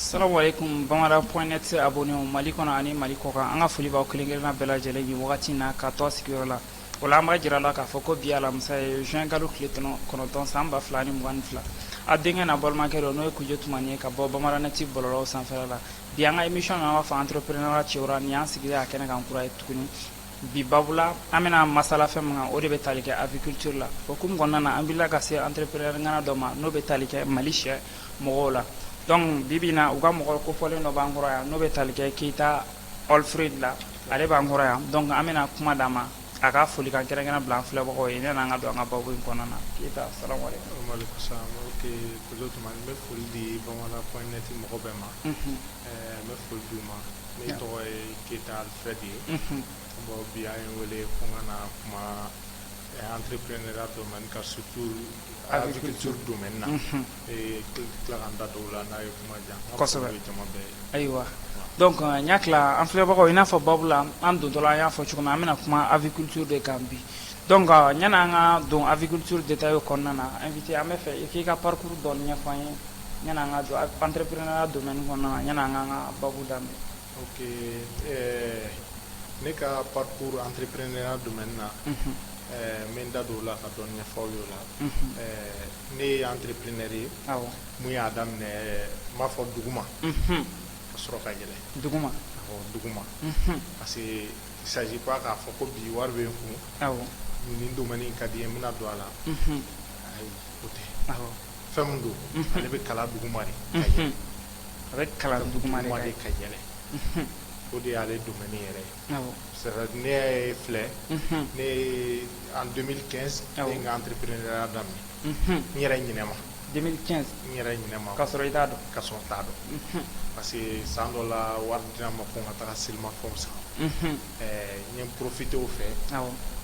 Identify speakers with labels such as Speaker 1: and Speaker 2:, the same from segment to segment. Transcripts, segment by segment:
Speaker 1: Salamuwalekum Bamada point net abonné mali kɔnɔ ani mali kɔ kan an ka foli b'aw kelenkelenna bɛɛ lajɛlen ye wagati in na ka to aw sigiyɔrɔ la o la an b'a jira aw la k'a fɔ ko bi alamisa ye juin kalo tile kɔnɔntɔn san ba fila ni mugan ni fila aw denkɛ n'aw balimakɛ dɔ n'o ye Kujo Tumani ye ka bɔ Bamada net bɔlɔlɔ sanfɛla la bi an ka émission an b'a fɔ entrepreneur ŋana ci ni an sigilen a kɛnɛ kan kura ye tuguni bi babu la an bɛna masala fɛn min kan o de bɛ tali kɛ aviculture la o hukumu kɔnɔna an bɛ ka se entrepreneur ŋana dɔ ma n'o bɛ tali kɛ mali sɛ mɔgɔw la donc bi bi in na u ka mɔgɔ kofɔlen dɔ b'an kɔrɔ yan n'o bɛ tali kɛ Keyita Alfred la ale b'an kɔrɔ yan donc an bɛna kuma d'a ma a ka folikan kɛrɛnkɛrɛn bila an filɛbagaw ye yan'an ka don an ka babu in kɔnɔna na Keyita salamuwalekum walekum salam
Speaker 2: ok Kujo Tumani n bɛ foli di Bamada point net mɔgɔ bɛɛ ma unhun ɛɛ n bɛ foli d'u ma ne tɔgɔ ye Keyita Alfred ye unhun bon bi aw ye n wele ko n ka na kuma entrepreneuriat domaine kan surtout Aviculture domaine na unhun ee tila tila ka n da don o la n'a ye kuma diya n ka Kosɛbɛ. foli bɛ jama bɛɛ
Speaker 1: ye ayiwa
Speaker 2: donc
Speaker 1: euh, n y'a tila an filɛbagaw i n'a fɔ babu la an dontɔla an y'a fɔ cogo min an bɛna kuma aviculture de kan bi donc euh, yanni an ka don aviculture détail kɔnɔna na invité an b'a fɛ i k'i ka parcours dɔɔni ɲɛfɔ an ye yanni an ka don entrepreneuriat domaine kɔnɔna na yanni an k'an ka babu daminɛ Ok
Speaker 2: ne ka parcours entrepreneuriat domaine na n bɛ n da don o la ka dɔɔni ɲɛfɔ aw ye o la ne ye entrepreneur ye min y'a daminɛ n b'a fɔ duguma ka sɔrɔ ka yɛlɛ duguma
Speaker 1: duguma
Speaker 2: parce que il s'agit pas k'a fɔ ko bi wari bɛ n kun nin domaine in ka di n ye n bɛna don a la ayi o tɛ fɛn min don ale bɛ kalan duguma de a bɛ
Speaker 1: kalan duguma de ka
Speaker 2: yɛlɛ o de y'ale domaine yɛrɛ ye ne ye filɛ ne en deux mille quinze n ye n ka entrepreneuriat daminɛ n yɛrɛ ɲinɛma n
Speaker 1: yɛrɛ
Speaker 2: ɲinɛma ka sɔrɔ i t'a dɔn ka sɔrɔ
Speaker 1: n t'a
Speaker 2: dɔn parce que san dɔ la wari dira n ma ko n ka taa selimafɛnw san n ye profité o fɛ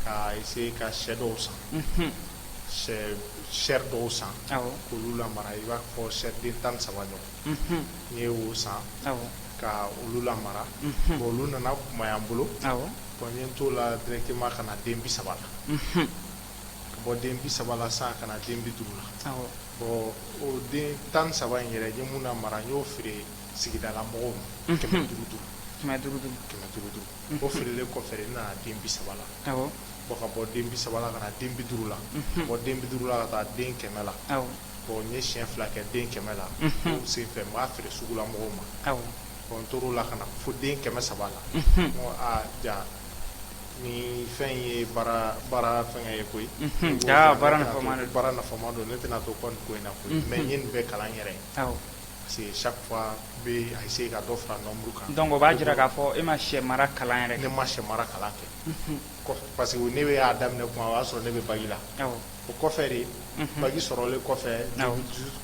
Speaker 2: ka essayer ka sɛ dɔw san sɛ dɔw san k'olu lamara i b'a fɔ sɛ den tan saba ɲɔgɔn n ye wo san ka olu lamara bon olu nana kumaya n bolo bon n ye n to o la directement ka na den bi saba la ka bɔ den bi saba la san ka na den bi duuru la bon o den tan saba in yɛrɛ n ye min lamara n y'o feere sigidala mɔgɔw ma kɛmɛ duuru duuru duuru bon o feerelen kɔfɛ n nana den bi saba la bon ka bɔ den bi saba la ka na den bi duuru la bɔ den bi duuru la ka taa den kɛmɛ la bon n ye siyɛn fila kɛ den kɛmɛ la o sen fɛ n b'a feere sugu la mɔgɔw ma bon n tor'o la ka na fo den kɛmɛ saba la aa jaa nin fɛn ye baara fɛn ye koyi
Speaker 1: baara
Speaker 2: nafama don ne tɛna to ko in na koyi mais n ye nin bɛɛ kalan n yɛrɛ ye parce que chaque fois n bɛ essayer ka dɔ fara nombre kan donc o b'a jira k'a fɔ
Speaker 1: e ma sɛ mara kalan yɛrɛ ne ma sɛ mara kalan
Speaker 2: kɛ Parce que ne y'a daminɛ kuma o y'a sɔrɔ ne bɛ bac la o kɔfɛ de bac sɔrɔlen kɔfɛ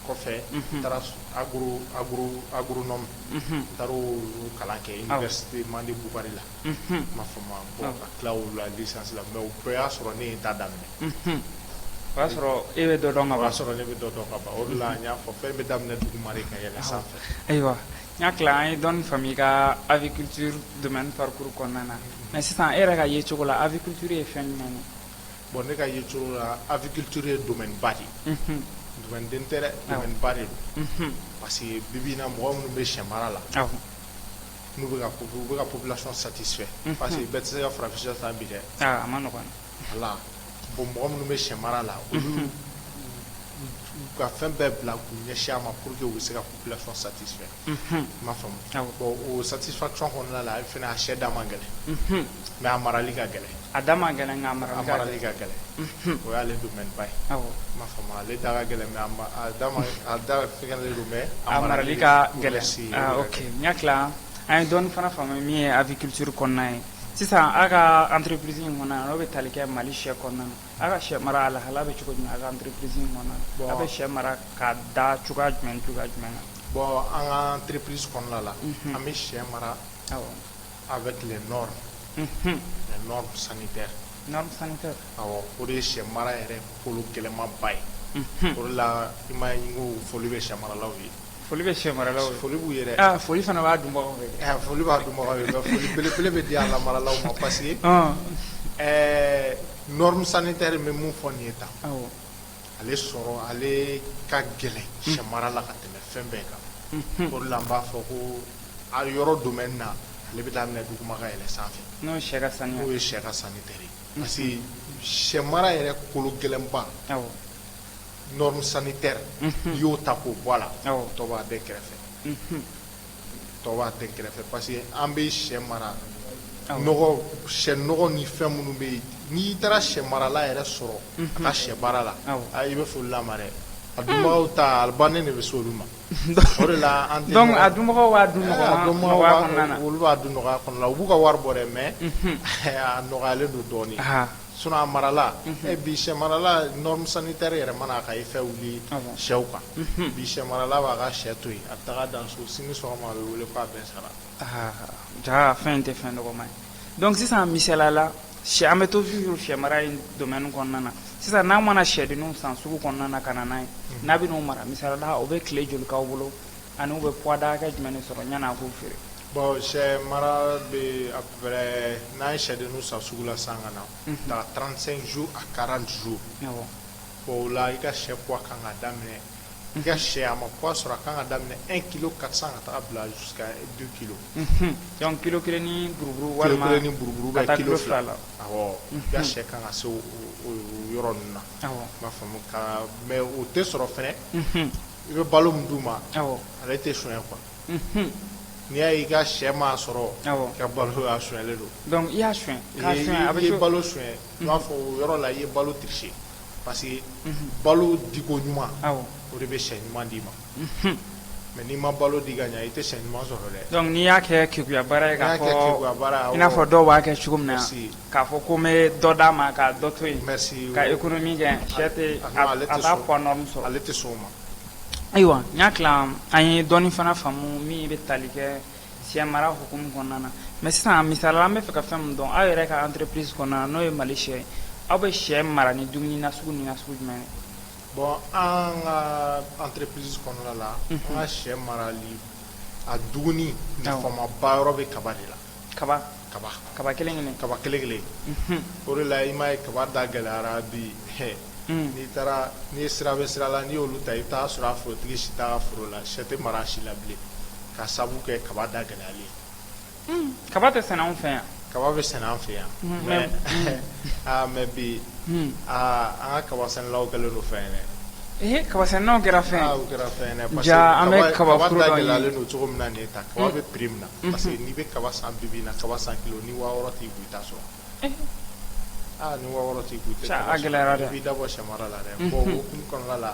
Speaker 2: kɔfɛ n taara agronome n taara o kalan kɛ université Mande Bukari la i m'a faamu bon ka tila o la licence la mais o bɛɛ y'a sɔrɔ ne ye n ta daminɛ o y'a
Speaker 1: sɔrɔ e bɛ dɔ dɔn o y'a sɔrɔ ne bɛ dɔ dɔn ka
Speaker 2: ban o de la n y'a fɔ fɛn bɛ daminɛ duguma de ka yɛlɛ sanfɛ ayiwa N
Speaker 1: hakili an ye dɔn fa i ka abikitu dɛmɛ parikuru kɔnɔna na mɛ sisan e yɛrɛ ka ye cogo la a bɛtu ye fɛn ɲuman ye bɔn ne ka ye
Speaker 2: cogo la abikitu ye ba de den tɛ ba de don parce que bibi na mɔgɔ minnu bɛ sɛ mara la n'u bɛ bɛ ka pbilati satifɛ pa que bɛɛ tɛ se ka farafin tan bi dɛ la bon mɔgɔ minnu bɛ sɛ mara la olu ka fɛn bɛɛ bila k'u ɲɛsin a ma pour que u bɛ se ka population satisfait i m'a faamu bon o satisfaction kɔnɔna la a fana a sɛ da man gɛlɛn mais a marali ka gɛlɛn a da man gɛlɛn
Speaker 1: nka a marali ka
Speaker 2: gɛlɛn o y'ale domaine ba ye i m'a faamu ale da fɛngɛlen don mais a marali ka
Speaker 1: gɛlɛn n hakili la an ye dɔɔnin fana faamu min ye aviculture kɔnɔna ye sisan a ka entreprise in kɔnɔna n'o bɛ tali kɛ Mali sɛ kɔnɔna aw ka sɛ mara a lahala bɛ cogo jumɛn a ka entreprise in kɔnɔna aw bɛ sɛ mara ka da cogoya jumɛn cogoya jumɛn na bon an ka
Speaker 2: entreprise kɔnɔna la an bɛ sɛ mara avec les normes les
Speaker 1: normes sanitaires o de ye sɛ
Speaker 2: mara yɛrɛ kolo gɛlɛnmanba ye o de la i m'a ye n ko foli bɛ sɛmaralaw ye Foli bɛ sɛ
Speaker 1: maralaw ye foli b'u ye dɛ foli
Speaker 2: fana b'a
Speaker 1: dunbagaw fɛ foli b'a
Speaker 2: dunbagaw ye mais foli belebele bɛ di a lamaralaw ma parce que ɛɛ norme sanitaire n bɛ min fɔ nin ye tan ale sɔrɔ ale ka gɛlɛn sɛ mara la ka tɛmɛ fɛn bɛɛ kan o de la n b'a fɔ ko a yɔrɔ domaine na ale bɛ daminɛ duguma ka yɛlɛ sanfɛ n'o ye sɛ ka
Speaker 1: saniya n'o ye sɛ ka sanitaire
Speaker 2: ye parce que sɛ mara yɛrɛ kolo gɛlɛnba norme sanitaire n'i y'o ta k'o bɔ a la tɔw b'a dɛn kɛrɛfɛ tɔw b'a dɛn kɛrɛfɛ parce que an bɛ sɛ mara nɔgɔ sɛ nɔgɔ ni fɛn minnu bɛ yen n'i taara sɛ marala yɛrɛ sɔrɔ a ka sɛ baara la i bɛ foli la a ma dɛ a dunbagaw ta a labɛnnen de bɛ se olu ma o de la a dunbagaw
Speaker 1: b'a dun nɔgɔya kɔnɔna na olu b'a dun
Speaker 2: nɔgɔya kɔnɔna na u b'u ka wari bɔ dɛ mais a nɔgɔyalen don dɔɔnin Sinon a marala bi sɛ marala norme sanitaire yɛrɛ mana ka i fɛ wuli sɛw kan bi sɛ marala b'a ka sɛ to yen a taa dan so sini sɔgɔma a bɛ wele k'a bɛɛ sara aa jaa
Speaker 1: fɛn tɛ fɛn dɔgɔman ye donc sisan misali la sɛ an bɛ toujours sɛ mara in domaine kɔnɔna na sisan n'aw mana sɛdenninw san sugu kɔnɔna na ka na n'a ye n'a bɛ n'o mara misali la o bɛ tile joli k'aw bolo Ani u bɛ poids da hakɛ jumɛn de sɔrɔ ɲani a k'u feere? Bon
Speaker 2: sɛ mara bɛ à peu près n'an ye sɛdenninw san sugu la sisan ka na, unhun, taga 35 jours à 40 jours, awɔ, bon o la i ka sɛ poids ka kan ka daminɛ, i ka sɛ a ma poids sɔrɔ a ka kan ka daminɛ 1 kilo 400 ka taga bila jusqu'à 2 kilo, unhun, donc
Speaker 1: kilo kelen ni buruburu walima kilo kelen ni buruburu ka
Speaker 2: taa kilo fila la, awɔ, i ka sɛ ka kan ka se o yɔrɔ ninnu na, awɔ, i m'a faamu, ka mais o tɛ sɔrɔ fɛnɛ, unhun. i bɛ balo min d'u ma ale tɛ sonya quoi n'i y'a ye i ka shɛ m'a sɔrɔ i ka balo sonyalen don i y'a
Speaker 1: sonya i ye balo sonya u
Speaker 2: b'a fɔ o yɔrɔ la i ye balo tricher parce que balo diko ɲuman o de bɛ sɛ ɲuman d'i ma mais n'i ma balo di ka ɲɛ i tɛ sɛ ɲuman sɔrɔ dɛ donc n'i y'a kɛ keguya
Speaker 1: baara ye kɛ baara i n'a fɔ dɔw b'a kɛ cogo min na K'a fɔ ko n bɛ dɔ d'a ma ka dɔ to yen ka économie kɛ sɛ t'a poids norme sɔrɔ ale tɛ sɔn o
Speaker 2: ma ayiwa n
Speaker 1: y'a an ye dɔɔnin fana faamu min bɛ tali kɛ sɛ mara hukumu kɔnɔna na mais sisan misali la an b'a fɛ ka fɛn min dɔn aw yɛrɛ ka entreprise kɔnɔna na n'o ye Mali sɛ ye aw bɛ sɛ mara ni dumuni nasugu min nasugu jumɛn ye
Speaker 2: bon an ka entreprise kɔnɔna la an ka sɛ marali a dumuni nafamaba yɔrɔ bɛ kaba de la kaba kelen kelen o de la i m'a ye kaba da gɛlɛyara bi n'i taara n'i sira bɛ sira la n'i y'olu ta i t'a sɔrɔ a forotigi si t'a ka foro la sɛ tɛ mara a si la bilen ka sabu kɛ kaba da gɛlɛyalen kaba tɛ sɛnɛ
Speaker 1: anw fɛ yan kaba bɛ sɛnɛ an
Speaker 2: fɛ yan mais aa mais bi aa an ka kaba sɛnɛlaw kɛlen don fɛn ye dɛ ee kaba sɛnɛlaw kɛra fɛn
Speaker 1: kɛra fɛn
Speaker 2: an bɛ kaba
Speaker 1: da gɛlɛyalen
Speaker 2: don
Speaker 1: cogo
Speaker 2: min na nin ye tan kaba bɛ prix min na unhun, parce que n'i bɛ kaba san bi bi in na kaba san kilo ni waa wɔɔrɔ t'i kun i t'a sɔrɔ eh. aa ni waa wɔɔrɔ t'i kun i tɛ kaba sɔrɔ i b'i da
Speaker 1: bɔ sɛmara la dɛ
Speaker 2: mhm. bon o hukumu kɔnɔna la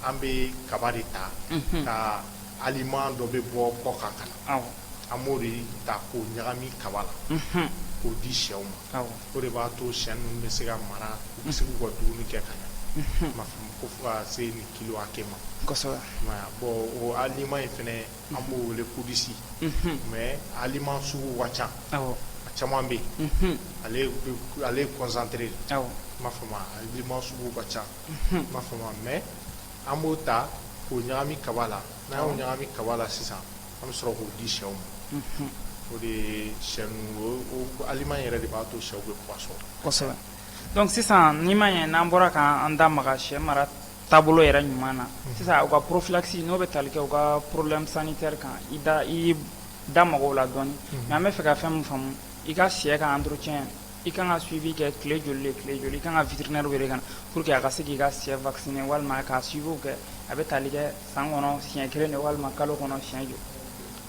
Speaker 2: an bɛ kaba de ta mhm. ka aliment dɔ bɛ bɔ kɔ kan ka na an b'o de ta k'o ɲagami kaba la mhm. k'o di sɛw ma o de b'a to sɛ ninnu bɛ se ka mara u bɛ se k'u ka dumuni kɛ ka ɲɛ m'a faamu ko fo ka se nin kilo hakɛ ma kosɛbɛ
Speaker 1: bon o
Speaker 2: aliment in fɛnɛ an b'o wele kodisi mais aliment sugu ka ca a caman bɛ yen ale ye concentré m'a faamu aliment sugu ka ca m'a faamu mais an b'o ta k'o ɲagami kaba la n'an y'o ɲagami kaba la sisan an bɛ sɔrɔ k'o di sɛw ma o de sɛ ninnu aliment yɛrɛ de b'a to sɛw bɛ poids sɔrɔ
Speaker 1: donc sisan n'i ma ye n'an bɔra k'an da maga sɛ mara taabolo yɛrɛ ɲuman na sisan u ka prophylaxie n'o bɛ talikɛ u ka problème sanitaire kan i da i da maga o la dɔɔnin mais an bɛ fɛ ka fɛn min faamu i ka sɛ ka entretien i ka kan ka suivi kɛ tile joli tile joli i ka kan ka vétérinaire wele ka na pour que a ka se k'i ka sɛ vacciner walima k'a suiviw kɛ a bɛ tali kɛ san kɔnɔ siɲɛ kelen de walima kalo kɔnɔ siɲɛ joli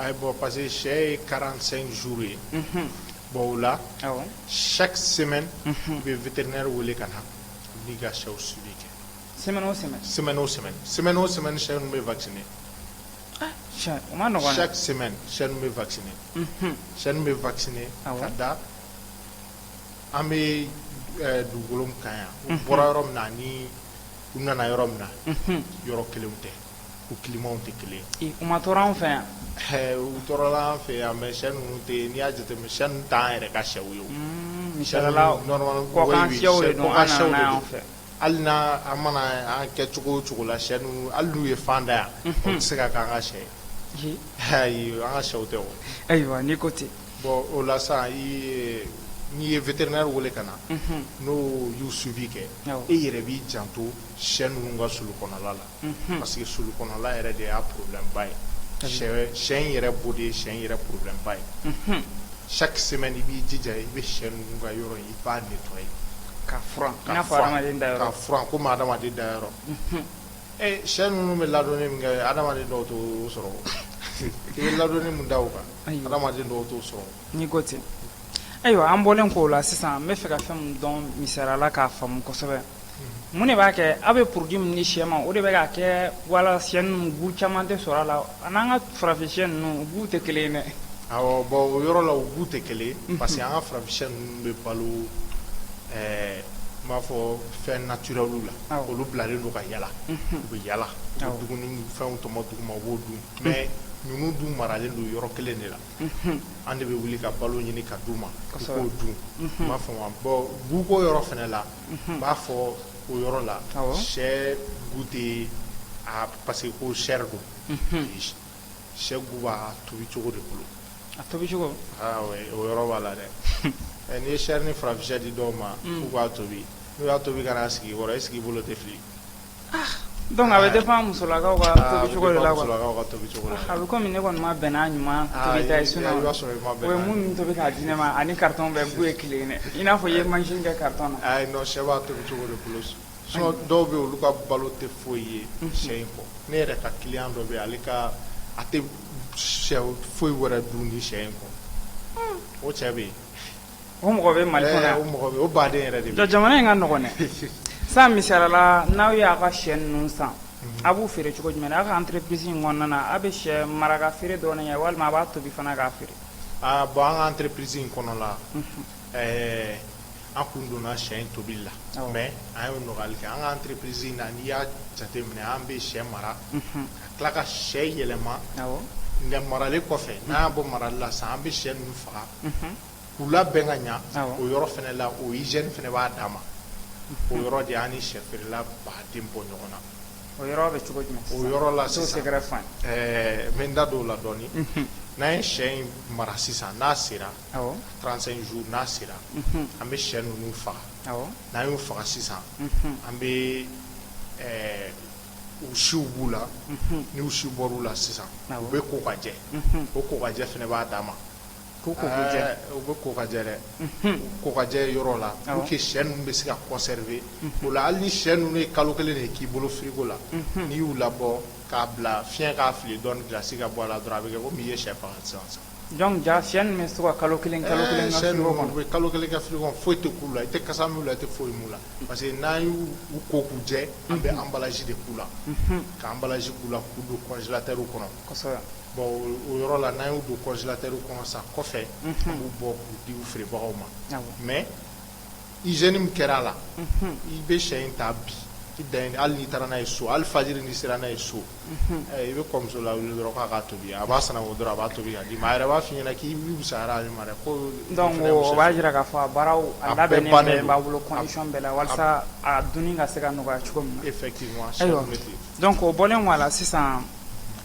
Speaker 1: ayi bon
Speaker 2: parce que sɛ ye quarante-cinq jours ye bon o la chaque semaine i bɛ vétérinaire wele ka na n'i ka sɛw suivi kɛ
Speaker 1: sɛmɛ o sɛmɛ sɛmɛ o
Speaker 2: sɛmɛ sɛmɛ o sɛmɛ sɛ bɛ ba sɛ
Speaker 1: sɛ sɛ
Speaker 2: bɛ ba sɛ bɛ ba ka da an bɛ dugukolo ka yan bɔra yɔrɔ min na ni u nana yɔrɔ min na yɔrɔ kelen tɛ u kimaw tɛ kelen u ma tora an fɛ
Speaker 1: yan u tora
Speaker 2: an fɛ yan mɛ sɛ ninnu tɛ n'i y'a jate sɛ tan yɛrɛ ka sɛw ye sɛ
Speaker 1: Hali n'an
Speaker 2: mana an kɛ cogo o cogo la sɛ ninnu hali n'u ye fan da yan o tɛ se ka k'an ka sɛ ye an ka sɛw tɛ ayiwa n'i ko ten
Speaker 1: bon o la
Speaker 2: sa n'i ye vétérinaire wele ka na n'o y'u suivi kɛ e yɛrɛ b'i janto sɛ ninnu ka sulu kɔnɔla la parce que sulu kɔnɔla yɛrɛ de y'a problème ba ye sɛ in yɛrɛ bo de ye sɛ in yɛrɛ problème ba ye chaque semaine i b'i jija i bɛ sɛ ninnu ka yɔrɔ in i b'a nettoyer k'a furan
Speaker 1: i n'a fɔ hadamaden da yɔrɔ k'a furan komi hadamaden
Speaker 2: da yɔrɔ ee sɛ ninnu bɛ ladonni min kɛ hadamaden dɔw t'o sɔrɔ i bɛ ladonni min da u kan hadamaden dɔw t'o sɔrɔ n'i ko ten
Speaker 1: ayiwa an bɔlen k'o la sisan n bɛ fɛ ka fɛn min dɔn misaliya la k'a faamu kosɛbɛ Mun de b'a kɛ aw bɛ produit min di sɛ ma o de bɛ k'a kɛ wala sɛ ninnu goût caman tɛ sɔrɔ a la a n'an ka farafin sɛ ninnu goût tɛ kelen dɛ bon o yɔrɔ
Speaker 2: la u goût tɛ kelen parce que an ka farafin sɛ ninnu bɛ balo n b'a fɔ fɛn naturel la olu bilalen don ka yaala u bɛ yaala dumuni fɛnw tɔmɔ duguma u b'o dun mais ninnu dun maralen don yɔrɔ kelen de la an de bɛ wuli ka balo ɲini ka d'u ma u b'o dun m'a faamu bon goût ko yɔrɔ fana la n b'a fɔ o yɔrɔ la sɛ goût tɛ a parce que ko chair don sɛ goût b'a tobi cogo de bolo a
Speaker 1: tobi o
Speaker 2: yɔrɔ b'a la dɛ ɛ n'i ye chair ni farafin sɛ di dɔw ma k'u k'a tobi n'u y'a tobi ka n'a sigi i kɔrɔ est-ce que i bolo tɛ fili
Speaker 1: Dɔnku a bɛ dépend musolakaw ka tobi cogo de la a
Speaker 2: bɛ kɔmi ne kɔni
Speaker 1: ma
Speaker 2: bɛn
Speaker 1: n'a ɲuman tobi k'a di ne ma ani carton bɛɛ bu ye kelen ye dɛ i n'a fɔ i ye machine kɛ carton
Speaker 2: na sinon dɔw bɛ yen olu ka balo tɛ foyi ye sɛ in kɔ ne yɛrɛ ka client dɔ bɛ yen ale ka a tɛ sɛ foyi wɛrɛ dun ni sɛ in kɔ o cɛ bɛ yen O mɔgɔ
Speaker 1: bɛ mali
Speaker 2: mɔgɔ jamana in ka nɔgɔn
Speaker 1: dɛ san misali la n'aw y'aw ka sɛ ninnu san a b'u feere cogo jumɛn aw ka entreprise in kɔnɔna na aw bɛ sɛ mara ka feere dɔrɔn de kɛ walima a b'a tobi fana k'a feere aaa bon an ka
Speaker 2: entreprise in kɔnɔ la ɛɛ an kun donna sɛ in tobi la mɛ an ye nɔgɔyali kɛ an ka entreprise na n'i y'a jate minɛ an bɛ sɛ mara tila ka sɛ yɛlɛma nka marali kɔfɛ n'an y'a bɔ marali la sisan an bɛ sɛ ninnu faga k'u labɛn ka ɲɛ o yɔrɔ fana la o hygiène fana b'a dan ma o yɔrɔ de y'an ni sɛ feerela baden bɔ ɲɔgɔn na o yɔrɔ bɛ cogo
Speaker 1: jumɛn o yɔrɔ la
Speaker 2: sisan
Speaker 1: n bɛ n da don o
Speaker 2: la dɔɔnin n'an ye sɛ in mara sisan n'a sera trente-cinq jours n'a sera an bɛ sɛ ninnu faga n'an y'u faga sisan an bɛ u siw b'u la ni u siw bɔr'u la sisan u bɛ ko ka jɛ o ko ka jɛ fana b'a dan ma u bɛ ko ka jɛ dɛ ko ka jɛ yɔrɔ la pour que sɛ ninnu bɛ se ka conserver o la hali ni sɛ ninnu ye kalo kelen de k'i bolo frigo la n'i y'u labɔ k'a bila fiɲɛ k'a fili dɔɔnin gilasi ka bɔ a la dɔrɔn a bɛ kɛ kɔmi i ye sɛ faga sisan Dɔnku ja
Speaker 1: sɛ ninnu bɛ se ka kalo kelen kalo kelen kalo kelen kɛ frigo
Speaker 2: kɔnɔ foyi tɛ k'u la i tɛ kasa mɛn u la i tɛ foyi mɛn u la parce que n'an y'u ko k'u jɛ an bɛ emballage de k'u la ka emballage k'u la k'u don congélateur kɔnɔ
Speaker 1: bon
Speaker 2: o yɔrɔ la n'an y'u don congélateur kɔnɔ sa kɔfɛ an b'u bɔ k'u di feerebagaw ma mɛ hygiène min kɛra a la i bɛ sɛ in ta bi i dan ye hali n'i taara n'a ye so hali fajiri n'i sera n'a ye so i b'i ka muso lawuli dɔrɔn k'a tobi a b'a sananko dɔrɔn a b'a tobi a yɛrɛ b'a f'i ɲɛna k'i o b'a jira k'a
Speaker 1: fɔ a baaraw labɛnnen b'a bolo condition bɛɛ la walasa a dunni ka se ka nɔgɔya cogo min na effectivement dɔnku o bɔlen a la sisan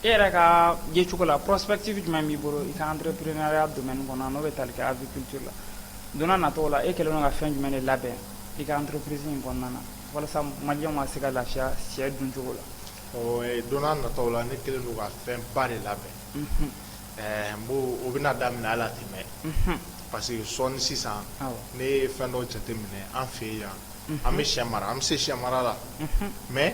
Speaker 1: e yɛrɛ ka ye cogo la perspective jumɛn b'i bolo i ka entrepreneuriat domaine kɔnɔ n'o bɛ tali kɛ aviculture la Donna natɔw la e kɛlen don ka fɛn jumɛn de labɛn i ka entreprise in kɔnɔna na walasa maliyɛnw ka se ka lafiya sɛ dun cogo la donna natɔw la
Speaker 2: ne kɛlen don ka fɛn ba de labɛn bon o bɛna daminɛ hali a tɛ mɛn parce que sɔɔni sisan ne ye fɛn dɔ jateminɛ an fɛ yan an bɛ sɛ mara an bɛ se sɛ mara la mɛ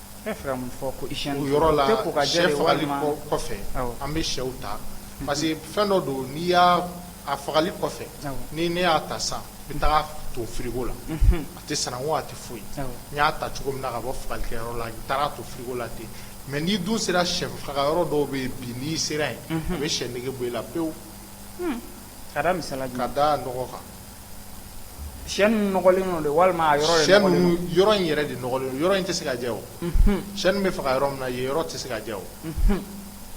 Speaker 2: Bɛ
Speaker 1: fɛ ka
Speaker 2: mun fɔ ko hygiène o yɔrɔ la,
Speaker 1: u tɛ
Speaker 2: ko ka jɛ de
Speaker 1: walima, sɛ
Speaker 2: fagali kɔ kɔfɛ,
Speaker 1: awɔ, an
Speaker 2: bɛ
Speaker 1: sɛw
Speaker 2: ta parce que fɛn dɔ don n'i y'a a fagali kɔfɛ, awɔ, ni ne y'a ta sisan n bɛ taga to frigo la, unhun, a tɛ sananko a tɛ foyi, awɔ, n y'a ta cogo min na ka bɔ fagalikɛyɔrɔ la n taara to frigo la ten mais n'i dun sera sɛ faga yɔrɔ dɔw bɛ yen bi n'i sera yen, unhun, a bɛ sɛ nege bɔ i la pewu, un,
Speaker 1: ka da misaliya jumɛn kan, ka da nɔgɔ kan Sɛ ninnu nɔgɔlen don de walima a yɔrɔ yɛrɛ sɛ nɔgɔlen don? ninnu yɔrɔ
Speaker 2: in
Speaker 1: yɛrɛ
Speaker 2: de
Speaker 1: nɔgɔlen
Speaker 2: don yɔrɔ in tɛ se ka jɛ o sɛ ninnu bɛ faga yɔrɔ min na yen yɔrɔ tɛ se ka jɛ o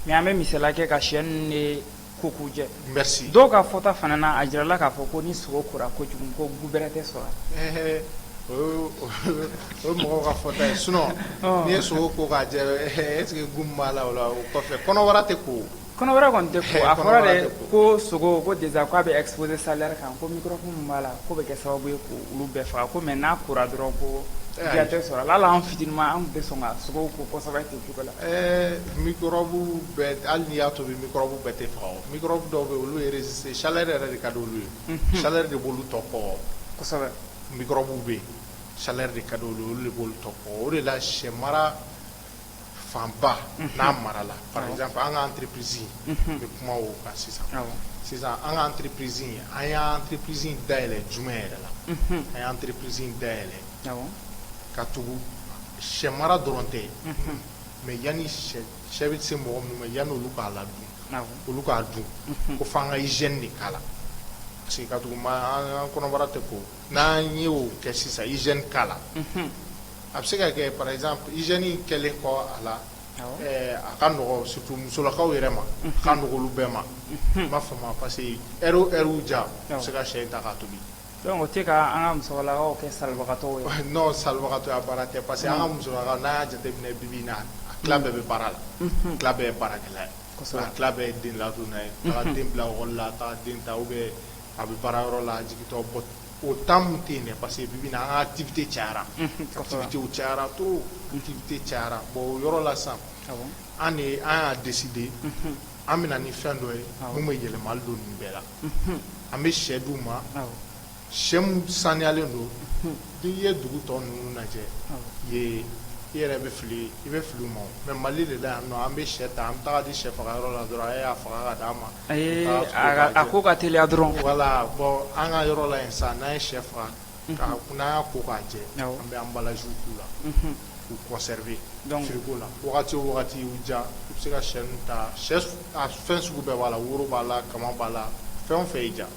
Speaker 2: mais an
Speaker 1: bɛ misaliya kɛ ka sɛ ninnu de ko k'u jɛ merci dɔw ka
Speaker 2: fɔta fana
Speaker 1: na a jirala k'a fɔ ko ni sogo kora kojugu ko goût bɛrɛ tɛ sɔrɔ a la ɛɛ o ye
Speaker 2: o ye mɔgɔw ka fɔta ye sinon n'i ye sogo ko k'a jɛ est ce que goût min b'a la o la o kɔfɛ kɔnɔbara tɛ ko o Kɔnɔ wɛrɛ kɔni tɛ
Speaker 1: a fɔra de ko sogo ko dɛsɛ k'a bɛ epzse sa kan ko min min b'a la ko bɛ kɛ sababu ye ko olu bɛɛ faga ko mɛ n'a kura dɔrɔn ko tɛ sɔrɔ ala la an fi ma an bɛ sɔn ka sogo ko kɔsɔ ten cogo la ɛɛbu
Speaker 2: hali ni y'a to bɛbu bɛɛ tɛ faga dɔw bɛ olu yɛrɛ sisan sa yɛrɛ de ka di olu ye sa de bolo tɔ kɔ
Speaker 1: bɛ
Speaker 2: sa de ka olu de bolo tɔ o de la sɛ mara fanba n'a marala par exemple an ka entreprise n bɛ kuma o kan sisan sisan an ka entreprise an y'an entreprise dayɛlɛn juma yɛrɛ la an y'an entreprise dayɛlɛn ka tugu sɛ mara dɔrɔn tɛ mais yanni sɛ bɛ se mɔgɔ minnu ma yanni olu k'a la dun olu k'a dun ko fo an ka hygiène de k'a la parce que ka tugu an kɔnɔbara tɛ ko n'an ye o kɛ sisan hygiène k'a la a bɛ se ka kɛ par exemple hygiène in kɛlen kɔ a la, awɔ, ɛɛ a ka nɔgɔ surtout musolakaw yɛrɛ ma, unhun, a ka nɔgɔ olu bɛɛ ma, unhun, i m'a faamu wa parce que heure o heure déjà u bɛ se ka sɛ in ta k'a tobi, donc o tɛ ka
Speaker 1: an ka musolakaw kɛ salibagatɔw ye wa? non
Speaker 2: salibagatɔya baara tɛ parce que an ka musolakaw n'a y'a jateminɛ bi bi in na a tila bɛɛ bɛ baara la, unhun, a tila bɛɛ ye baarakɛla ye, kosɛbɛ, a tila bɛɛ ye denladonna ye, unhun, taga den bila école la taga den ta ou bien a bɛ baarayɔrɔ la a jigintɔ O temps min tɛ yen parce que bi bi in na an ka activité cayara activité cayara trop activité cayara bon o yɔrɔ la sisan an de an y'a décidé an bɛ na ni fɛn dɔ ye min bɛ yɛlɛma don nin bɛɛ la an bɛ sɛ d'u ma sɛ min saniyalen don n'i ye dugu tɔ ninnu lajɛ i yɛrɛ bɛ fili i bɛ fili u ma mais Mali de la yan an bɛ sɛ ta an bɛ taa di sɛ faga yɔrɔ la dɔrɔn a y'a faga ka d'a ma Ee a ko ka
Speaker 1: teliya dɔrɔn voilà bon
Speaker 2: an ka yɔrɔ la yen sisan n'an ye shɛ faga n'an y'a ko k'a jɛ an bɛ emballage k'u la k'u conserver frigo la wagati o wagati u ja u bɛ se ka shɛ ninnu ta fɛn sugu bɛɛ b'a la woro b'a la kaman b'a la fɛn o fɛn y'i ja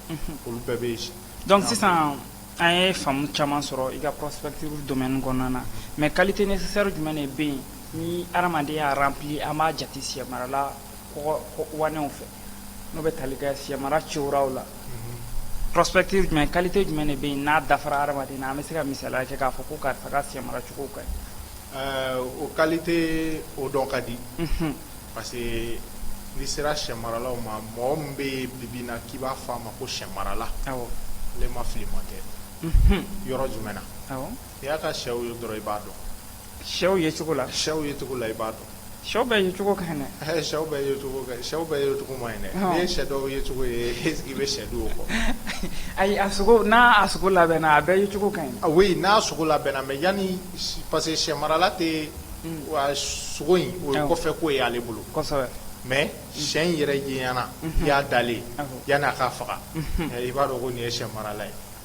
Speaker 2: olu bɛɛ bɛ yen donc
Speaker 1: sisan an ye faamu caman sɔrɔ i ka prospective domaine kɔnɔna na mais qualité nécessaire jumɛn de bɛ yen ni adamaden y'a rempli an b'a jate sɛ marala wanɛw fɛ n'o bɛ tali kɛ sɛmara cɛwuraw la prospective jumɛn qualité jumɛn de bɛ yen n'a dafara hadamaden na an bɛ se ka misali kɛ k'a fɔ ko karisa ka sɛ mara cogo ka ɲi o qualité
Speaker 2: o dɔn ka di parce que n'i sera sɛ maralaw ma mɔgɔ min bɛ yen bibi in na k'i b'a fɔ a ma ko sɛ marala ale ma fili ma tɛ yɔrɔ jumɛn na n'i y'a ka shɛw ye dɔrɔn i b'a dɔn Shɛw ye
Speaker 1: cogo la shɛw ye cogo la i b'a
Speaker 2: dɔn shɛw bɛɛ ye
Speaker 1: cogo ka ɲi dɛ shɛw bɛɛ ye
Speaker 2: cogo shɛw bɛɛ ye cogo ma ɲi dɛ n'i ye sɛ dɔw ye cogo ye i bɛ sɛ dun o kɔ ayi a
Speaker 1: sogo n'a a sogo labɛnna a bɛɛ ye cogo ka ɲi oui n'a sogo
Speaker 2: labɛnna mais yanni parce que sɛ marala tɛ wa sogo in o ye kɔfɛ ko ye ale bolo kosɛbɛ
Speaker 1: mais sɛ
Speaker 2: in yɛrɛ yeɲa na i y'a dalen yanni a ka faga i b'a dɔn ko nin ye sɛ marala ye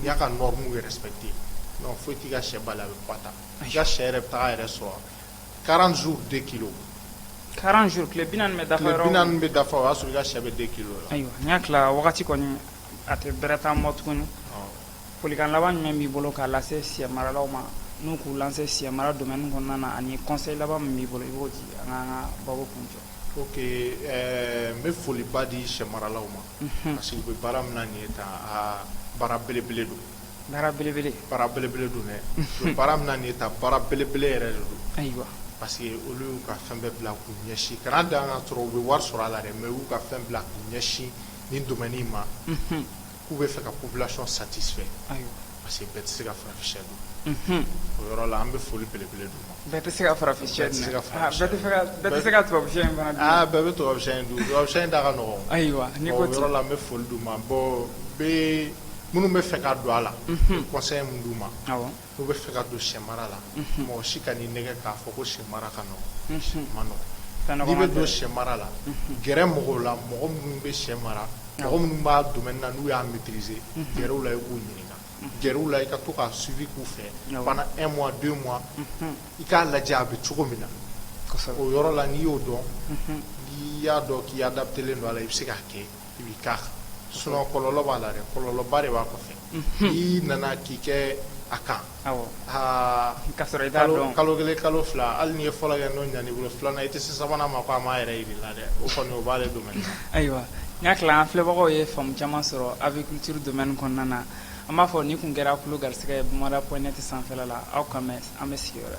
Speaker 2: n'i y'a ka norme respecter non foyi t'i ka sɛ bali a bɛ poids ta i ka sɛ yɛrɛ bɛ taa a yɛrɛ sɔrɔ 40 jours 2 kilos 40
Speaker 1: jours tile 40 bɛ dafa yɔrɔ o yɔrɔ tile 40 bɛ dafa o y'a sɔrɔ
Speaker 2: i ka sɛ bɛ 2 kilos la ayiwa n y'a tila wagati
Speaker 1: kɔni a tɛ bɛrɛ t'an bolo tuguni folikan laban jumɛn b'i bolo k'a lase sɛ maralaw ma n'u k'u lancer sɛ mara domaine kɔnɔna na ani conseil laban min b'i bolo i b'o di an k'an ka baabu kuncɛ ok ɛɛ
Speaker 2: n bɛ foliba di sɛ maralaw ma parce que u bɛ baara min na nin ye tan aa baara belebele don, baara belebele, baara belebele don dɛ, u bɛ baara min na nin ye tan baara belebele yɛrɛ de don, ayiwa, parce que
Speaker 1: olu
Speaker 2: y'u ka fɛn bɛɛ bila k'u ɲɛsin kana dan k'a sɔrɔ u bɛ wari sɔrɔ a la dɛ mais u y'u ka fɛn bila k'u ɲɛsin nin domaine in ma, unhun, k'u bɛ fɛ ka population satisfait ayiwa parce que bɛɛ tɛ se ka farafinsɛ dun o yɔrɔ la an bɛ foli belebele d'u ma bɛɛ tɛ se ka
Speaker 1: farafinsɛ dun ah, bɛɛ tɛ se ka tubabusɛ in fana dun aa ah, bɛɛ bɛ tubabusɛ in dun
Speaker 2: tubabusɛ in da ka nɔgɔn ayiwa n'i ko o yɔrɔ
Speaker 1: la an bɛ foli d'u
Speaker 2: ma bon bɛ minnu bɛ fɛ ka don a la conseil min d'u ma n'u bɛ fɛ ka don sɛ mara la mɔgɔ si kan'i nɛgɛn k'a fɔ ko sɛ mara ka nɔgɔn sɛ ma nɔgɔn n'i bɛ don sɛ mara la gɛrɛ mɔgɔw la mɔgɔ minnu bɛ sɛ mara mɔgɔ minnu b'a domaine na n'u y'a maîtriser gɛrɛ u la i k'u ɲininka, gɛrɛ u la i ka to ka suivi k'u fɛ pendant un mois deux mois i k'a lajɛ a bɛ cogo min na, kosɛbɛ, o yɔrɔ la n'i y'o dɔn n'i y'a dɔn k'i adaptelen don a la i bɛ se k'a kɛ i b'i k'a kan sinon kɔlɔlɔ b'a la dɛ, kɔlɔlɔba de b'a kɔfɛ i nana k'i kɛ a kan kalo kelen kalo fila hali n'i ye fɔlɔ kɛ n'o ɲan'i bolo filanan i tɛ se sabanan ma ko a m'a yɛrɛ yir'i la dɛ o kɔni b'ale domaine na ayiwa n hakili la
Speaker 1: an filɛbagaw ye faamu caman sɔrɔ aviculture domaine kɔnɔna na an b'a fɔ ni kun kɛra kulu garisɛgɛ ye bamada point net sanfɛla la aw ka an bɛn sigi wɛrɛ